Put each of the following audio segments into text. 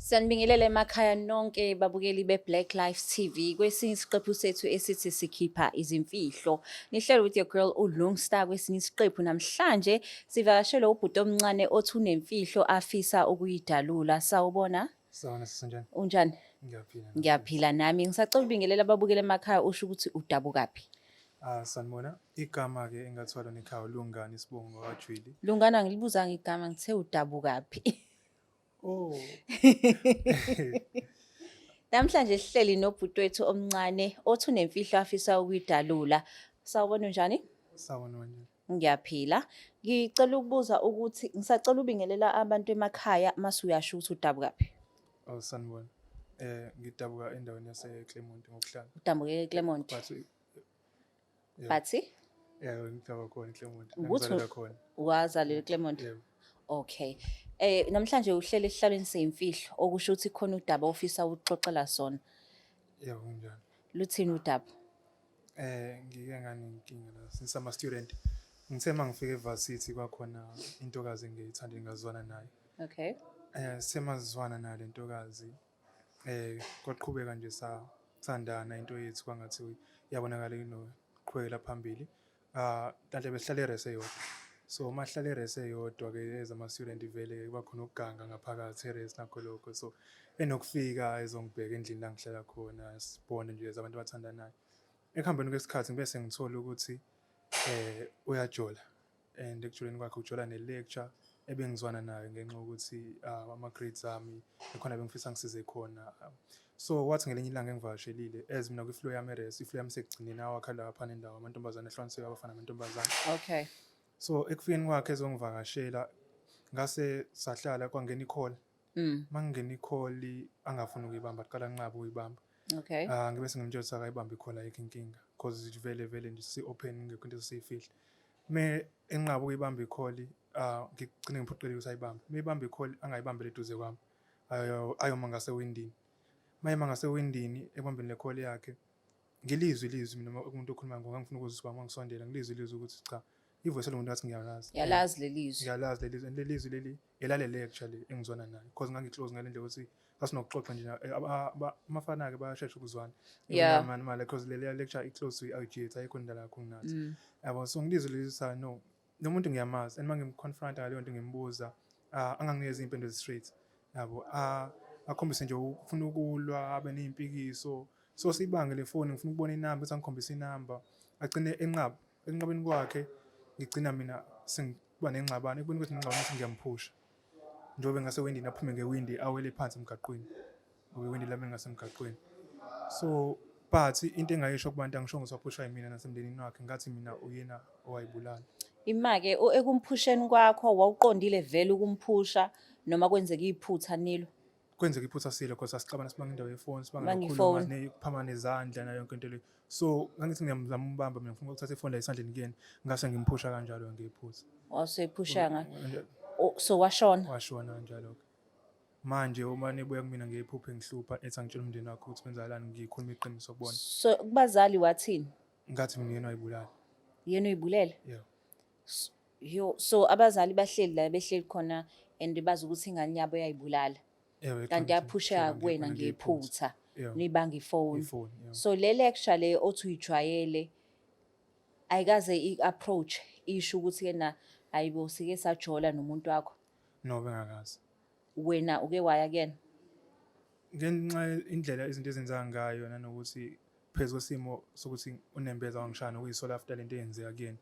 Sanibingelela emakhaya nonke babukeli be-Black Life TV kwesinye isiqephu sethu esithi sikhipha izimfihlo. Nihlele with your girl uLungstar kwesinye isiqephu namhlanje sivakashele ubhuti omncane othi unemfihlo afisa ukuyidalula. Sawubona? Sawona sisenjani? Unjani? Ngiyaphila. Ngiyaphila nami. Ngisacela ubingelela ababukeli emakhaya usho ukuthi udabukaphi. Ah sanibona igama ke engathwala nekhaya lungani isibongo wakajwili. Lungana ngilibuzanga igama ngithe udabukaphi. Oh. Namhlanje sihleli nobhuti wethu omncane othi unemfihlo afisa ukuyidalula. Sawubona unjani? Sawubona wena. Ngiyaphila. Ngicela ukubuza ukuthi ngisacela ubingelela abantu emakhaya mase uyasho ukuthi udabuka phi. Oh sanibona. Eh ngidabuka endaweni yase Clermont ngokuhlala. Udabuke eClermont. But Yeah. Bathi? Yeah, ngidaba khona eClermont. Ukuthi Ngizalelwa khona. wazalelwa eClermont. Yeah. Okay. Eh namhlanje uhlele esihlalweni seyimfihlo okusho ukuthi khona udaba ofisa ukuxoxela sona. Yeah, kunjalo. Luthini udaba? Eh ngike nganenkinga la since ama student. Ngithe mangifika eVarsity kwakhona intokazi engiyithanda ngazwana nayo. Okay. Eh semazwana nayo lentokazi Eh kwaqhubeka nje sathandana into yethu kwangathi iyabonakala inoqhubekela phambili. Ah kanti besihlale erese yodwa. So uma sihlale erese yodwa ke ezama student vele kuba khona ukuganga ngaphakathi erese nakho lokho. So enokufika ezongibheka endlini la ngihlala khona sibone nje as abantu abathandanayo. Ekuhambeni kwesikhathi ngibe sengithola ukuthi eh uyajola and ekujuleni kwakhe ujola ne-lecture ebengizwana nayo ngenxa yokuthi ah, ama-grades ami ekhona bengifisa ngisize khona so kwathi ngelinye ilanga engivakashelile as mina kwi-flow yami eres i-flow yami sekugcineni awakha lapha nendawo amantombazane ehlukaniseka abafana amantombazane okay so ekufikeni kwakhe ezongivakashela ngase sahlala kwangena i-call Mm. Mangingena ikholi angafuni ukuyibamba aqala nqaba uyibamba. Okay. Ah ngibe sengimtshela ukuthi akayibambe ikholi ayikho inkinga because it vele vele nje si open ngekho into esiyifihle. Me enqaba ukuyibamba ikholi ah ngigcine ngiphoqeleke ukuthi ayibambe. Me ibamba ikholi angayibambele eduze kwami. Ayo ayoma ngase windini. Mayema ngase windini ebambeni lekholi yakhe. Ngilizwi ilizwi mina uma umuntu okhuluma ngangifuna ukuzisibamba ngisondela ngilizwi ilizwi ukuthi cha ivoice elingumuntu ngathi ngiyalazi yalazi lelizwi ngiyalazi lelizwi and lelizwi leli elalele actually engizwana nayo because ngangiclose ngale ndlela ukuthi sasinokuxoxa nje amafana ke bayashesha ukuzwana yeah man mali because leli lecture iclose to IG ayikho indala yakho nginathi mm. yabo so ngilizwi leli sa no nomuntu ngiyamazi and mangimconfront ngaleyo nto ngimbuza ah, anganginikeza impendulo straight yabo ah, akhombise nje ufuna ukulwa abe nezimpikisho so sibangele ifoni ngifuna ukubona inamba ukuthi angikhombise inamba agcine enqaba Ekunqabeni kwakhe ngigcina mina sengiba nengxabano ekubeni ukuthi ngingxabano ukuthi ngiyamphusha njengoba ngase windini aphume ngewindi awele phansi emgaqweni ngoba iwindi lami lingasemgaqweni so but into engayisho kubantu angisho ngisaphushwa yimina nasemndenini wakhe ngathi mina uyena owayibulala imake ekumphusheni kwakho wawuqondile vele ukumphusha noma kwenzeka iphutha nilo kwenzeka iphutha silo because asixabana sibanga indawo yefoni sibanga nokukhuluma kuphama nezandla nayo yonke into le so ngangithi ngiyamzama umbamba mina ngifuna ukuthatha ifoni la esandleni kuyena ngase ngimphusha kanjalo ngiyiphutha waseyiphushanga so washona washona kanjalo manje uma nibuya kumina ngiyiphuphe ngihlupha ethi angitshela umndeni wakho ukuthi kwenzakalani ngikhuluma iqiniso kubona so kubazali wathini ngathi mina yena uyibulala yena uyibulele yeah Yo, so abazali bahleli la behleli khona and bazi ukuthi ingane yabo yayibulala. Ewe, Kanti yaphusheka kuwena ngephutha. Yeah. Nibanga ifoni. Ifoni, yeah. So le lecture le othi uyijwayele ayikaze i-approach isho ukuthi kena ayibo sike sajola nomuntu wakho. No bengakazi. wena uke waya kuyena ngenxa indlela izinto ezenzeka ngayo nanokuthi phezu kwesimo sokuthi unembeza wangishaya nokuyisola after lento eyenzeka kuyena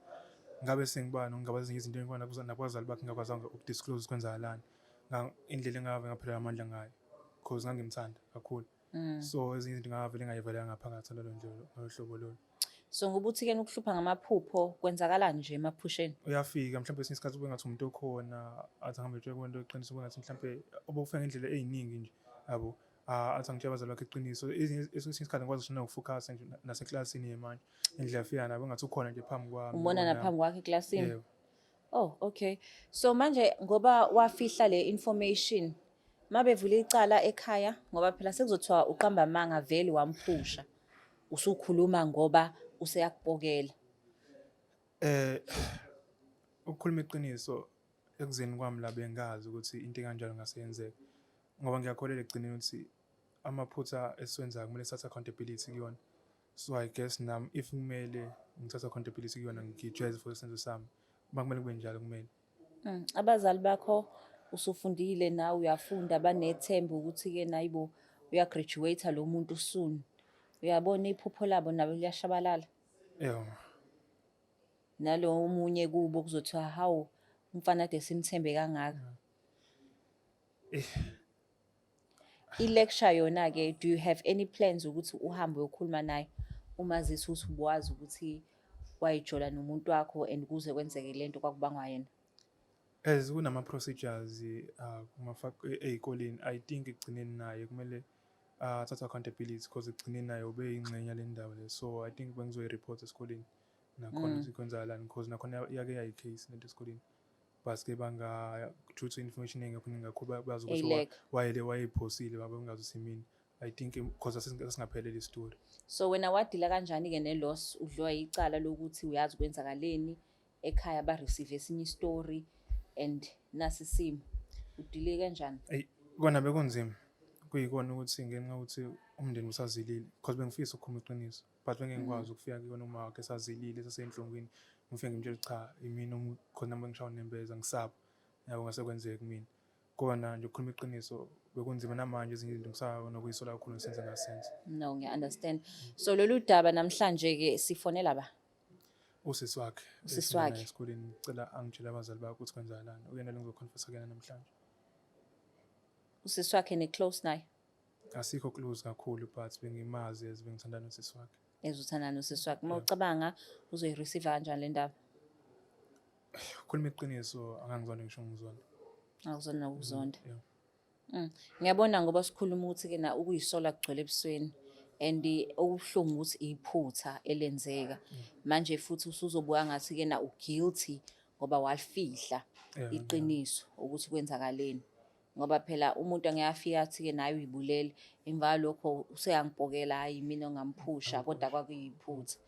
ngabe sengiba nokungaba ezinye izinto engikwana nakwazali bakhe ngakwazanga ukudisclose kwenzakalani indlela engave ngaphelelwa amandla ngayo cause ngangimthanda kakhulu Mm. So ezinye izinto ngavele ngayivalela ngaphakathi lolo njalo ngalo hlobo lolo. So ngokuthi ke ukuhlupha ngamaphupho kwenzakalani nje emaphusheni? Uyafika mhlawumbe esinye isikhathi kube ngathi umuntu okhona athi ahambe etshwe kwento eqiniso kube ngathi mhlawumbe obokufika ngendlela eziningi nje yabo ah, athi angitshela abazali bakhe iqiniso esinye isikhathi ngikwazi ngisho nokufocusa nje naseklasini yemanje indlela afika nabo ngathi ukhona nje phambi kwami. Umbona naphambi kwakhe eklasini? Yebo. Oh okay. So manje ngoba wafihla le information mabevula icala ekhaya ngoba phela sekuzothiwa uqamba amanga vele wamphusha. Usukhuluma ngoba useyakupokela. Eh ukukhuluma iqiniso ekuzeni kwami la bengazi ukuthi into enganjalo ngase yenzeka. Ngoba ngiyakholelwa ekugcineni ukuthi amaphutha esiwenzayo kumele sithathe accountability kuyona. So I guess nam if kumele ngithatha khona iphilisi kuyona ngijwayeze for isenzo sami. Makumele kube njalo kumele. Mm, abazali bakho usufundile nawe uyafunda banethemba ukuthi ke nayibo uya graduate lo muntu soon. Uyabona iphupho labo nabo liyashabalala. Yeah. Nalo omunye kubo kuzothiwa hawu umfana de simthembe kangaka. Eh I-lecture yona-ke do you have any plans ukuthi uhambe uyokhuluma naye umazisi ukuthi ubuwazi ukuthi wayijola nomuntu wakho and kuze kwenzeke le nto kwakubangwa yena as kunama-procedures uh, ey'koleni i think ekugcineni naye kumele uh, athathe accountability because ekugcineni naye ube yingxenye le ndawo le so i think bengizoyi-report esikoleni nakhona mm. ukuthi kwenzakalani because nakhona yake yayi-case lento esikoleni baske bangathutha information engekho ningakho bazi ukuthi wayele wayephosile baba ungazi simini i think because asingaphelele istory so wena wadila kanjani ke ne loss udliwa icala lokuthi uyazi kwenzakaleni ekhaya ba receive esinye istory and nasi simo udile kanjani ay kona bekunzima kuyikona ukuthi ngenxa ukuthi umndeni usazilile because bengifisa ukukhuluma iqiniso but bengengikwazi ukufika kuyona uma wakhe sazilile sasenhlungwini ngifike ngimtshela cha imina khona uma ngishawa nembeza ngisaba yabo ngase kwenzeka kumina kona nje ukukhuluma iqiniso bekunzima namanje ezinye izinto ngisaba nokuyisola kakhulu ngisenze ngasenze no ngiya understand so lolu daba namhlanje ke sifonela ba usisi wakhe usisi wakhe esikoleni ngicela angitshele abazali bakho ukuthi kwenzakalani uyena lengizoconfessa kuyena namhlanje usisi wakhe ne close naye asikho close kakhulu but bengimazi as bengithanda nosisi wakhe as uthanda nosisi wakhe uma ucabanga uzoyireceive kanjani le ndaba khuluma iqiniso angangizona ngisho ngizona akuzona nokuzonda mm, mm. ngiyabona ngoba sikhuluma ukuthi ke na ukuyisola kugcwele ebusweni and okubuhlungu ukuthi iphutha elenzeka mm. manje futhi usuzobuka ngathi ke na uguilty ngoba walifihla iqiniso ukuthi kwenzakaleni ngoba phela umuntu angeke afike athi-ke naye uyibulele emva kwalokho useyangipokela hhayi mina ongamphusha kodwa kwakuyiphutha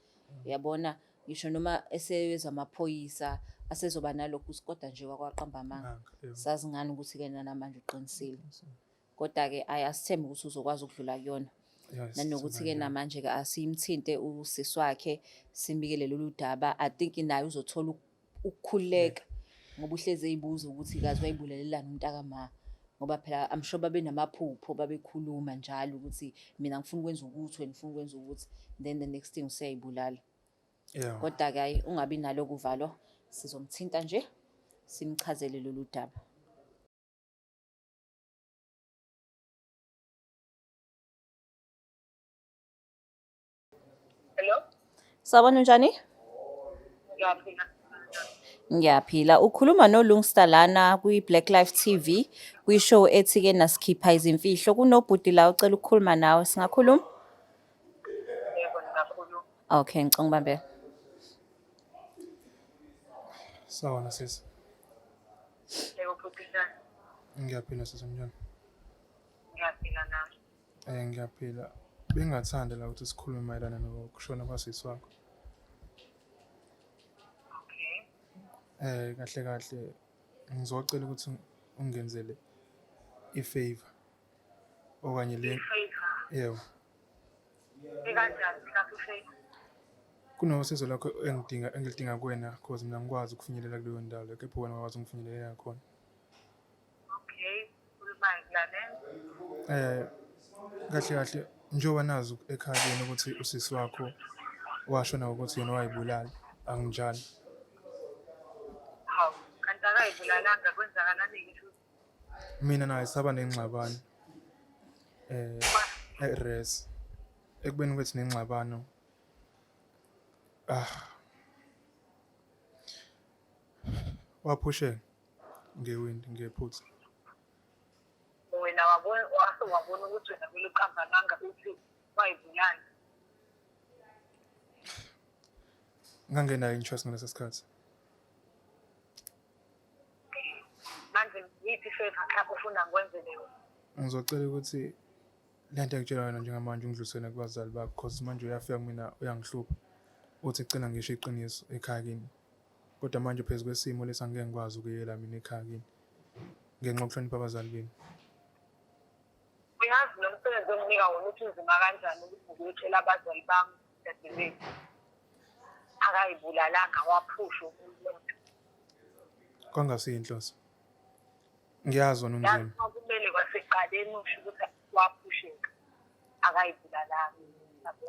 uyabona ngisho noma eseyeza amaphoyisa asezoba nalokhu kodwa nje kwakwaqamba amanga sazi ngani ukuthi-ke nanamanje uqinisile kodwa-ke ayi asithembe ukuthi uzokwazi ukudlula kuyona nanokuthi-ke namanje-ke asiyimthinte usisi wakhe simbikele lolu daba i think naye uzothola ukukhululeka ngoba uhlezi eyibuza ukuthi kazi wayibulelelani umntaka ma ngoba phela I'm sure babenamaphupho babekhuluma njalo ukuthi mina ngifuna ukwenza ukuthi wena ufuna ukwenza ukuthi then the next thing useyibulala yeah kodwa ke ayi ungabi nalo kuvalo sizomthinta nje simchazele lolu daba Hello. Sawubona unjani? Ngiyaphila. Ngiyaphila. Ukhuluma noLungsta lana kwi-Black Life TV kwi-show ethi-ke nasikhipha izimfihlo. Kunobhuti la ucela ukukhuluma nawe. Singakhuluma? Yebo ngingakhuluma. Okay, ngicela ubambele. Sawona sisi. Yebo bhuti njani? Ngiyaphila sisi mnjani? Ngiyaphila nami. Eh ngiyaphila. Bengingathanda la ukuthi sikhulume mayelana nokushona kwasisi wakho. Okay. Eh kahle kahle ngizocela ukuthi ungenzele ifavor okanye le Favor. yebo Ikanjani mhlawumbe ifavor? kunosizo lakho engidinga engilidinga kuwena cause mina ngikwazi ukufinyelela kuleyo ndawo leyo kepha wena wakwazi ungifinyelela khona Okay, ukhulumani lalela. Eh kahle kahle njengoba nazi ekhaya kini ukuthi usisi wakho washo nawe ukuthi yena wayibulala anginjalo. Hawu, kanti akayibulalanga kwenzakalani ngisho Mina naye saba nengxabano eh eRes ekubeni kwethu nengxabano ah waphusheka ngewindi ngephutha wena wabona wase wabona ukuthi wena kumele uqambe amanga uthi wayibulala ngangenayo interest ngaleso sikhathi manje yiphi favor mhlawumbe ufuna ngikwenzele yona ngizocela ukuthi le nto engitshela yona njengamanje ungidlulisele kubazali bakho cause manje uyafika kumina uyangihlupha uthi cela ngisho iqiniso ekhaya kimi Kodwa manje phezu kwesimo lesi angeke ngikwazi ukuyela mina ekhaya kini ngenxa yokuhlonipha abazali benu. Uyazi lo msebenzi onginika wona ukuthi unzima kanjani ukuthi ngiyotshela abazali bami dadewethu akayibulalanga waphusha umuntu Kwangasiyo inhloso. Ngiyazi wona yazi unzima. uma kumele kwasekuqaleni usho ukuthi waphusheka akayibulalanga yabo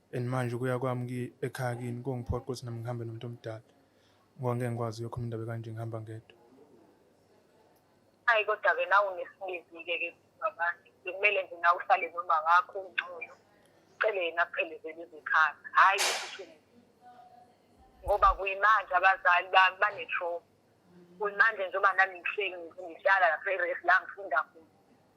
and manje ukuya kwami ekhaya kini kungiphoqa ukuthi nami ngihambe nomuntu omdala ngoba ngeke ngikwazi uyokhuluma indaba kanje ngihamba ngedwa hayi kodwa-ke nawe unesibizike ke babantu bekumele nje nawe uhlale noma wakho ungcono ucele yena aphelezele izikhaya hhayi ukuthi ngoba kuyimanje abazali bami banetroma kuyimanje njengoba nami ngihleli ngihlala lapha eresi la ngifunda khona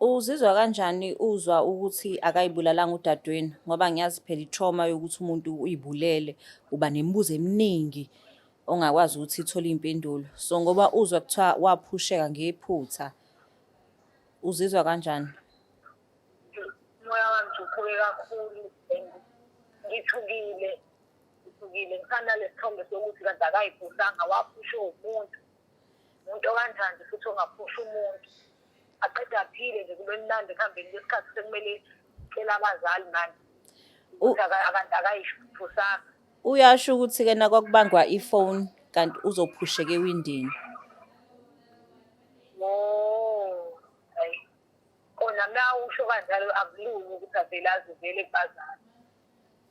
Uzizwa kanjani uzwa ukuthi akayibulalanga udadewenu ngoba ngiyazi phela i-trauma yokuthi umuntu uyibulele uba nemibuzo eminingi ongakwazi ukuthi ithole iy'mpendulo so ngoba uzwa kuthiwa waphusheka ngephutha uzizwa kanjani umoya wami ukhule kakhulu and ngithukile ngithukile ngisanalesithombe sokuthi kanti akayiphusanga waphushe umuntu umuntu okanjani futhi ongaphusha umuntu aqeda aphile nje kube mnandi ekuhambeni kwesikhathi sekumele cela abazali manje ukuthi akayiphusanga uyasho ukuthi kena kwakubangwa ifoni kanti uzophusheka ewindini kona mna usho kanjalo akulungi ukuthi avele azivele kubazali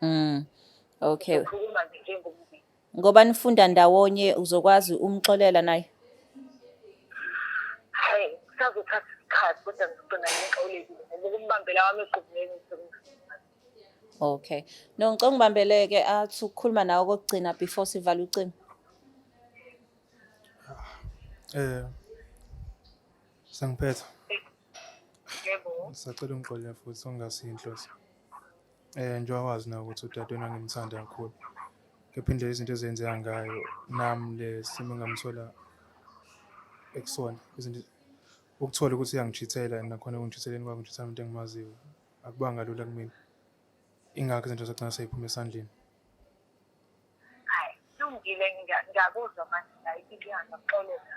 Mm. Okay. Ukhuluma nje njengomndeni. Ngoba nifunda ndawonye uzokwazi umxolela naye. Hey, kusazothatha isikhathi kodwa ngizogcina ngixolekile ngoba ukumbambela wami egqubuleni ngisekumfuna. Okay. No ngicela ungibambeleke athi ukukhuluma nawe kokugcina before sivala ucingo. Eh. Sengiphetha. Yebo. Sacela ungixolele futhi ungasinhloso. Eh njengoba wazi na ukuthi udadewenu angimthanda kakhulu. Kepha indlela izinto ezenzeka ngayo nami le simo engamthola ekusona izinto ukuthola ukuthi uyangichithela and nakhona ekungitshitheleni kwakhe ngitshithela umuntu engimaziyo akubanga lula kumina. Ingakho izinto zagcina seyiphume esandleni. Hayi, lungile ngiyakuzwa manje ngayiphi inyanga xolela.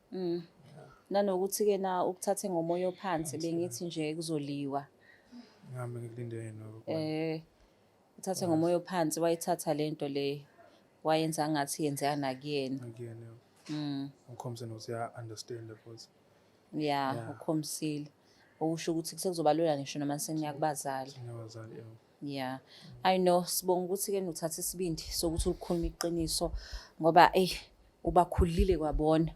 Mm. Nanokuthi-ke na ukuthathe ngomoya ophansi bengithi nje kuzoliwa. Ngihambe ngikulinde yena. Eh uthathe ngomoya ophansi wayithatha lento le wayenza ngathi yenzeka nakuyena. Nakuyena. Mm. Ukhombise nokuthi ya understand futhi. Yeah, ukhombisile. Okusho ukuthi sekuzoba lula ngisho noma seniyakubazali. Niyabazali yebo. Yeah. I know sibonga ukuthi ke nuthatha isibindi sokuthi ulikhuluma iqiniso ngoba ey ubakhulile kwabona.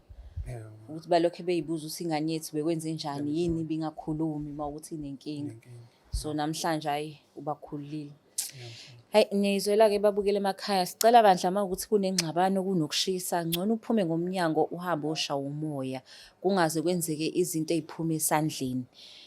Yeah. Ukuthi balokho beyibuza ukuthi ingane yethu bekwenze njani yini bingakhulumi mawukuthi inenkinga. So namhlanje ayi ubakhulile. Hayi niyizwela ke babukele emakhaya sicela bandla uma ukuthi kunengxabano kunokushisa ngcono uphume ngomnyango uhambe osha umoya kungaze kwenzeke izinto eziphuma esandleni